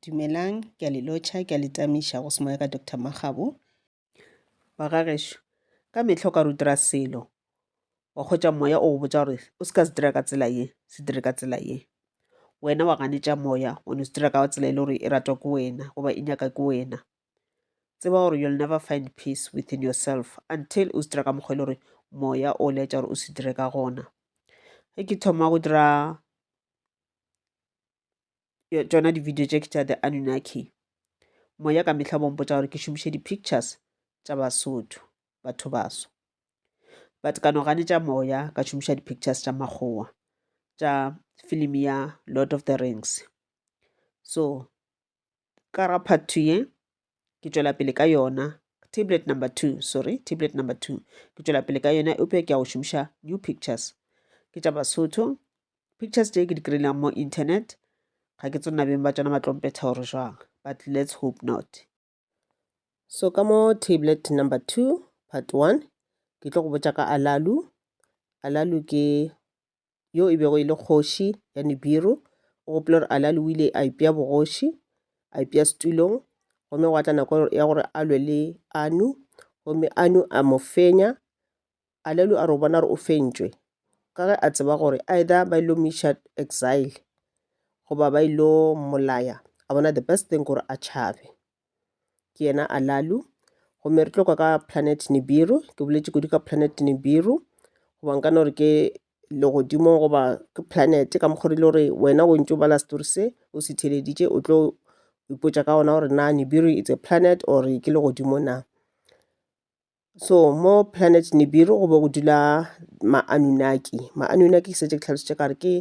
Dumelang, ke a le lotšha, ke a le tamiša go se moya ka Doctor Makgabo. Wa ga gešo, ka mehla o ka re o dira selo, wa hwetša moya o go botša gore o se ka se dira ka tsela ye, se dire ka tsela ye. Wena wa ganetša moya, o no se dira ka tsela e le gore e ratwa ke wena goba e nyaka ke wena. Tseba gore you'll never find peace within yourself until o se dira ka mokgwa e le gore moya o laetša gore o se dire ka gona. Ge ke thoma go dira tšona di-video tše ke tša the anunaki moya ka mehla bompotsa gore ke šomiše di-pictures tša basotho batho baso but ka no ganetša moya ka šomiša di-pictures tša makgowa tša film ya lord of the rings so ka ga part two ye ke tšwela pele ka yona tablet number two sorry tablet number two ke tšwela pele ka yona eupša ke ya go šomiša new pictures ke tša basotho pictures tše ke di kry-ileng mo internet ga ke tsona beng ba tšona ba tlompetha gore jwang but let's hope not so ka mo tablet number two part one ke tlo go botša ka alalu alalu ke yo e bego e le kgoši ya Nibiru, o gopola gore Alali o ile a ipea bogoši, a ipea setulong, gomme gwa tla nako ya gore a lwe le Anu, gomme Anu a mo fenya. Alalu a re o bona gore o fentšwe, ka ge a tseba gore either ba ilo miša exile, goba ba ilo mmolaya, a bona the best thing gore a tšhabe. ke yena alalu gomme re tlo kwa ka planet nibiru ke boletše kudu ka planet nibiru goba nka no re ke legodimo goba ke planet ka mokgwa rile gore wena o ntse o bala story se o se theleditše o tlo ipotša ka ona gore na nibiru it's a planet or ke legodimo na So mo planet Nibiru go be go dula ma-Anunnaki. Ma-Anunnaki ke setse ke tlhalositše ka re ke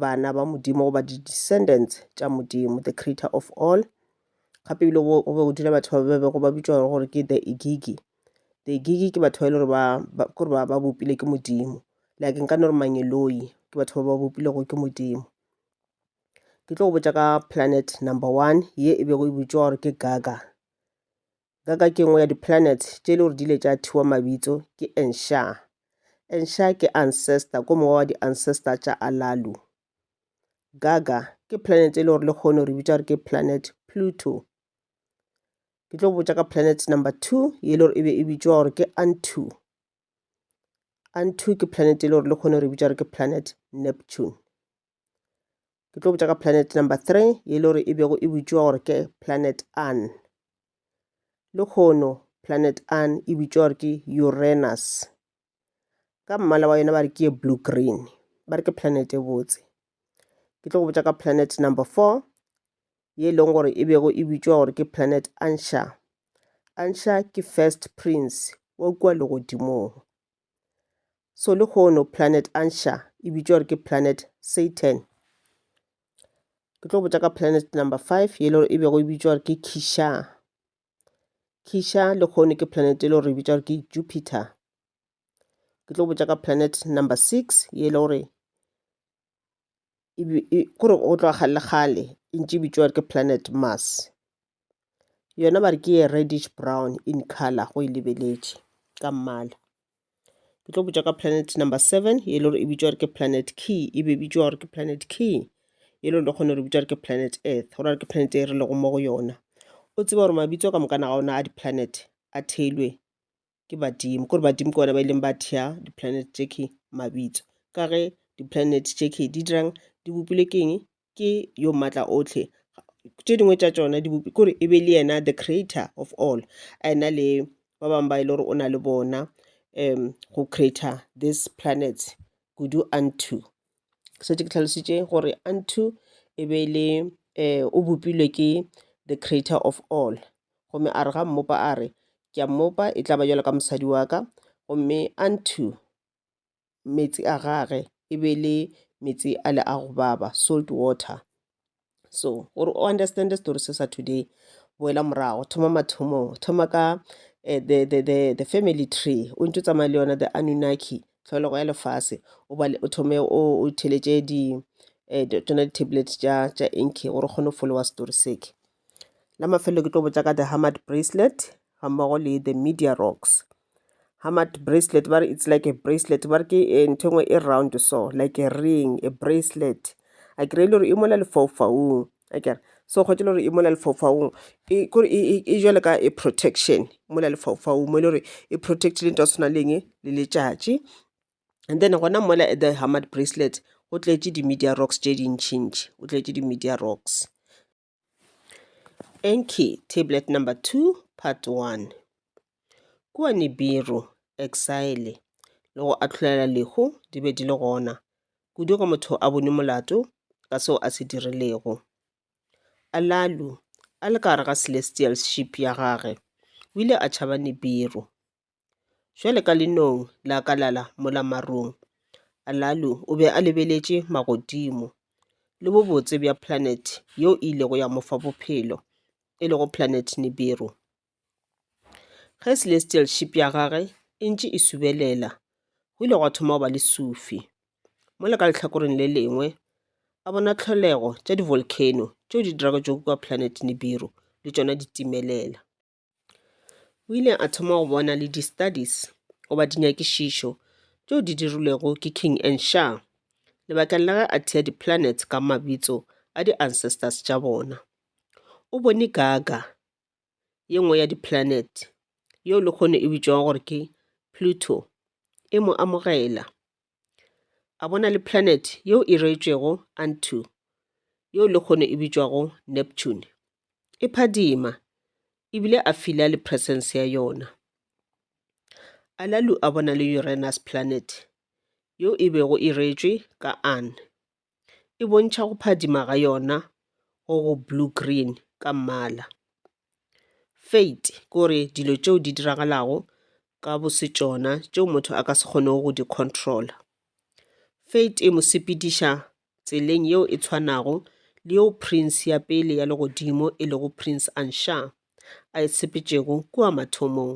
bana ba Modimo goba di-descendants tša Modimo, the creator of all. Gape ebile go go be go dula batho ba ba bego ba bitšwa gore- gore ke the Igigi. The Igigi ke batho ba e le gore ba- ba- ke gore ba ba bopilwe ke Modimo. Like nka no re Mangeloi, ke batho ba ba bopilwego ke Modimo. Ke tlo go botša ka planet number one ye e bego e bitšwa gore ke Gaga. ka ka ke nngwe ya di-planet tše e le gore di ile tša thiwa mabitso ke ensha ensha ke ancestor ko mongwe wa di-ancestor tša alalu gaga ke planet e le gore le kgone re bitša gore ke planet pluto ke tlo botša ka planet number two ye le gore e be e bitšwa gore ke antu antu ke planet e le gore le kgone re bitša gore ke planet neptune ke tlo botša ka planet number three ye le gore e bego e bitšwa gore ke planet an le kgono planet an e bitšwa gore ke uranus ka mmala wa yona ba re ke ye blue green ba re ke planet e botse ke tlo go botša ka planet number four ye e leng gore e bego e bitšwa gore ke planet ansha ansha ke first prince wa kua legodimong so le hono planet ansha e bitšwa gore ke planet satan ke tlo botša ka planet number five ye le gore e bego e bitšwa gore ke kisha kisha le hono ke planet e le gore e bitšwa gore ke jupiter ke tlo botša ka planet number six ye le gore kore go tloga kgale kgale e ntše e bitšwa ke planet Mars yona ba re ke ye reddish brown in colour go e lebeletše ka mmala. Ke tlo botša ka planet number seven e le gore e bitšwa gore ke planet key e be e bitšwa gore ke planet key e le gore le kgone gore e bitšwa gore ke planet earth go raya ke planet e re lego mo go yona o tseba gore mabitso ka moka na ga ona a di-planet a theilwe ke badimo kore badimo ke bona ba ileng ba thea di-planet tše ke mabitso ka ge di-planet tše ke di dirang di bopile ke eng ke yo maatla otlhe tše dingwe tša tšona di bopi kore e be le yena the creator of all a ena le ba bangwe ba e le gore o na le bona um go creator this planets kudu unto šetše ke tlhalositše gore unto e be e le um o bopilwe ke the creator of all gomme a re ga mmopa a re ke a mmopa e tla ba jalo ka mosadi wa ka gomme unto meetse a gage e be le meetse a le a go baba salt water so gore o understand story se sa today boela morago thoma mathomong thoma ka eh, the, the, the, the family tree o ntse tsamaya le yona the anunaki tlholego ya lefase o thome o theletše di eh, tsona di-tablet tša tša inke gore o kgone go folowa story seke la mafelelo ke tlo botsa ka the hamad bracelet ga mmogo le the media rocks ga mat bracelet ba re it's like a bracelet ba re ke eh, ntho engwe e round so like a ring a bracelet a kry e le gore e mola lefaufaung a kere so kgwetse le gore e mola lefaufaung e kore e, e, e jale ka e protection mola lefaufaung mo e le gore e protect le nto ya tshwana leng le letšatši and then gona mola the hamad bracelet go tletše di-media rocks tše dintšhintši o tletše di-media rocks Enki, Tablet Number 2, Part 1. Kua Nibiru, Exile, le go ahlolela lehu di be di le gona, kudu ge motho a bone molato ka seo a se dirilego. Alalu, a le ka gare ga celestial ship ya gage, o ile a tšhaba Nibiru. Bjale ka lenong la ka la la mola marung, Alalu o be a lebeletše magodimo le bobotse bja planet yeo e ilego ya mo fa bophelo, e lego planet Nibiru. Ge celestial ship ya gagwe e ntše e subelela, go ile gwa thoma go ba le sufi. Mola ka lehlakoreng le lengwe, a bona tlholego tša di-volcano tšeo di dirago tšo kukwa planet Nibiru le tšona di timelela. o ile a thoma go bona le di-studies goba dinyakišišo tšeo di dirilwego ke King and Sha lebakeng la ge a thea di-planets ka mabitso a di-ancestors tša bona. O bone Gaga, ye nngwe ya di-planet, yeo lehono e bitšwago gore ke Pluto, e mo amogela. a bona le planet yeo e reetšwego Antu, yeo lehono e bitšwago Neptune, e phadima e bile a fila le presence ya yona. Alalu a bona le Uranus planet yeo e bego e reetšwe ka An. e bontšha go phadima ga yona go go blue-green ka mmala. Fate ke gore dilo tšeo di diragalago ka bosetšona tšeo motho a ka se kgonego go di control-a. Fate e mo sepediša tseleng yeo e tshwanago le yeo Prince ya pele ya legodimo e lego Prince Ansha a e sepetšego kua mathomong.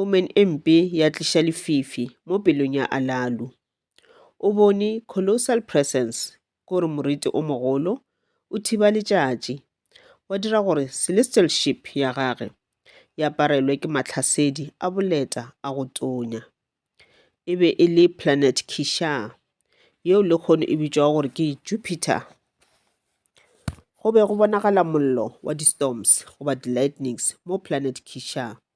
Omen e mpe ya tliša lefifi mo pelong ya Alalu. O bone colossal presence, ko re moriti o mogolo, o thiba letšatši, wa dira gore celestial ship ya gage e aparelwe ke mahlasedi a boleta a go tonya. E be e le planet Kishar, yeo lekgono e bitšwago gore ke Jupiter. Go be go bonagala mollo wa di-storms goba di-lightnings mo planet Kishar.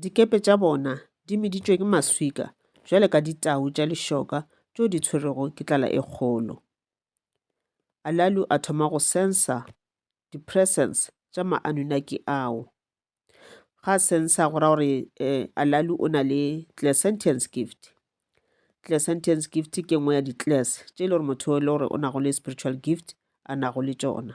Dikepe tša bona di meditšwe ke maswika bjale ka ditau tša lešoka tšeo di tshwerego ke tlala e kgolo. Alalu a thoma go sensa di-presence tša ma-Anunnaki ao. Ga a sensa go ra gore eh, Alalu o na le clairsentience gift. Clairsentience gift ke nngwe ya di-class tše e le gore motho e le gore o nago le spiritual gift a nago le tšona.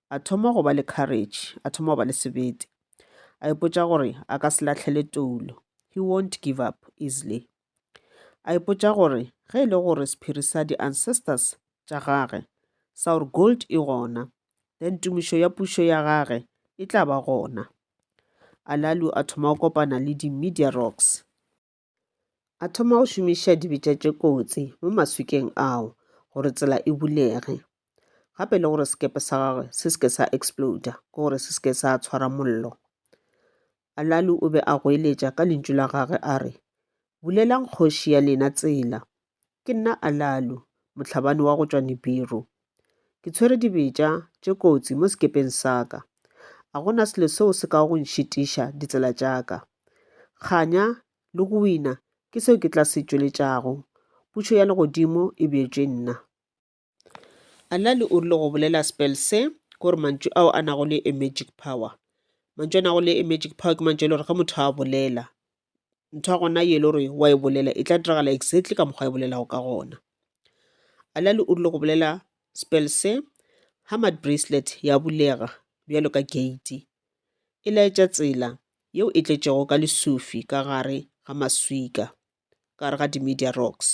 a thoma go ba le courage, a thoma go ba le sebete. A ipotša gore a ka se lahlele toulo. He won't give up easily. A ipotša gore ge e le gore sephiri sa di-ancestors tša gage sa gore gold e gona, then tumišo ya pušo ya gage e tla ba gona. Alalu a thoma go kopana le di-media rocks. A thoma go šomiša dibetša tše kotsi mo maswikeng ao gore tsela e bulege gape le gore sekepe sa gagwe se seke sa exploda ke gore se seke sa tshwara mollo alalu o be a goeletša ka lentšu la gagwe a re bulelang kgoši ya lena tsela Ke nna Alalu, mohlabani wa go tšwa Nibiru. Ke tshwere dibetša tše kotsi mo sekepeng sa ka. A go na selo seo se kago go nšitiša ditsela tša ka. Kganya le go wina ke seo ke tla se tšweletšago. Pušo ya legodimo e bjetšwe nna. Anali o rile go bolela spell se ke gore mantšu ao a nago le a magic power. Mantšu a nago le a magic power ke mantšu a e le gore ge motho a bolela ntho ya gona ye e le gore wa e bolela e tla diragala exactly ka mokgwa e bolelago ka gona. Anali o rile go bolela spell se ha mad bracelet ya bulega bjalo ka gate e laetša tsela yeo e tletšego ka lesufi ka gare ga maswika. ka gare ga di-media rocks.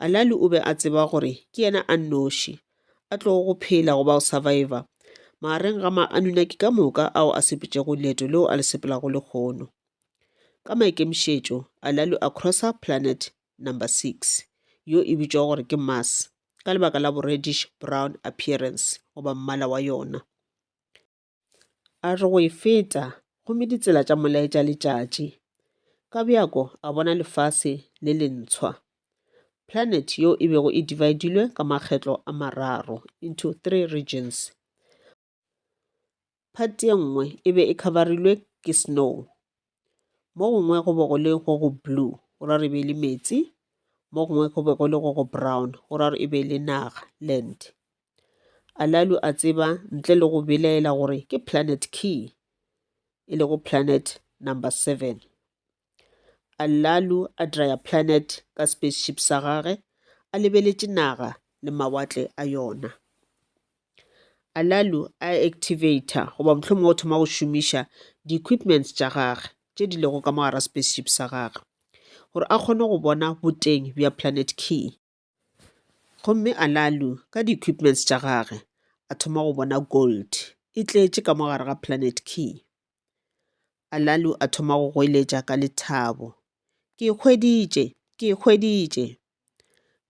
Alali o be a tseba gore ke yena a nnoši a tlogo go phela goba go survivor magareng ga ma-Anunnaki ka moka ao a sepetšego leeto leo a le sepelago lehono. Ka maikemišetšo, Alali a crossa planet number six, yo e bitšwago gore ke Mars, ka lebaka la bo-reddish brown appearance goba mmala wa yona. a re go e feta gomme ditsela tša molaetša letšatši ka bjako a bona lefase le lentshwa planet yo e bego e dividilwe ka makgetlo a mararo into three regions part ye nngwe e be e coverilwe ke snow mo gongwe go be go le go go blue go ra re be le meetse mo gongwe go be go le go go brown go ra re e be le naga land alalu a tseba ntle le go belaela gore ke planet key e le go planet number seven alalu a dryer planet ka spaceship sa gage a lebeletše naga le mawatle a yona Alalu a activator goba mohlomongwe o thoma go šomiša di-equipments tša gagwe tše di lego ka mo gare ga spaceship sa gagwe gore a kgone go bona boteng bja Planet K. Gomme Alalu ka di-equipments tša gagwe a thoma go bona gold e tletše ka mo gare ga Planet K. Alalu a thoma go goeletša ka lethabo, Ke e hweditše! Ke e hweditše!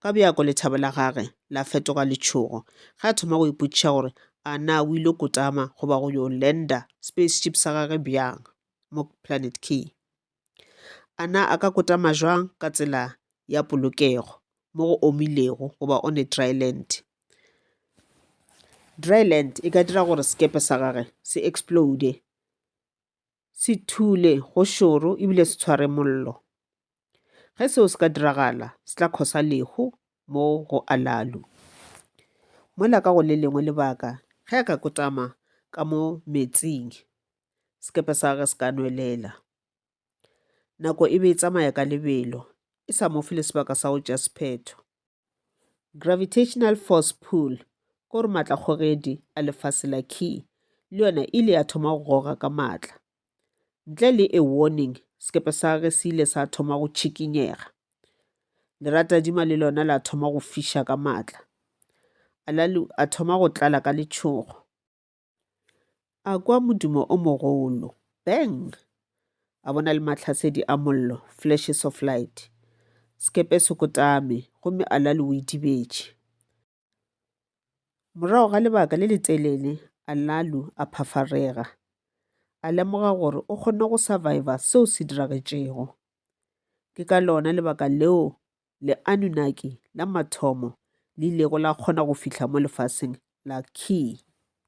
Ka bjako lethabo la gage la fetoga letšhogo ge a thoma go ipotšiša gore a na o ile kotama goba go yo lenda spaceship sa gage bjang mo Planet Key. A na a ka kotama bjang ka tsela ya polokego mo go omilego goba on a dry land? Dry land e ka dira gore sekepe sa gage se explode, se thule go šoro ebile se tshware mollo. Ge seo se ka diragala, se tla cause-a lehu mo go Alalu. Mola ka go le lengwe lebaka, ge a ka kotama ka mo metsing. sekepe sa gagwe se ka nwelela. Nako e be e tsamaya ka lebelo, e sa mo fe le sebaka sa go tša sephetho. Gravitational force pull, ko re matla kgogedi a lefase la key, le yona ile ya thoma go goga ka matla. Ntle le a warning, sekepe sa gagwe se ile sa thoma go tšhikinyega. Leratadima le lona la thoma go fiša ka matla. Alalu a thoma go tlala ka letšhogo. A kwa modumo o mogolo, bang! A bona le mahlasedi a mollo, flashes of light. Sekepe se kotame, gomme Alali o idibetše. Morago ga lebaka le letelele, Alalu a phafarega. A lemoga gore o kgonne go surviva seo se diragetšego. Ke ka lona lebaka leo le-Anunnaki la mathomo le ilego la kgona go fihla mo lefaseng la Ki.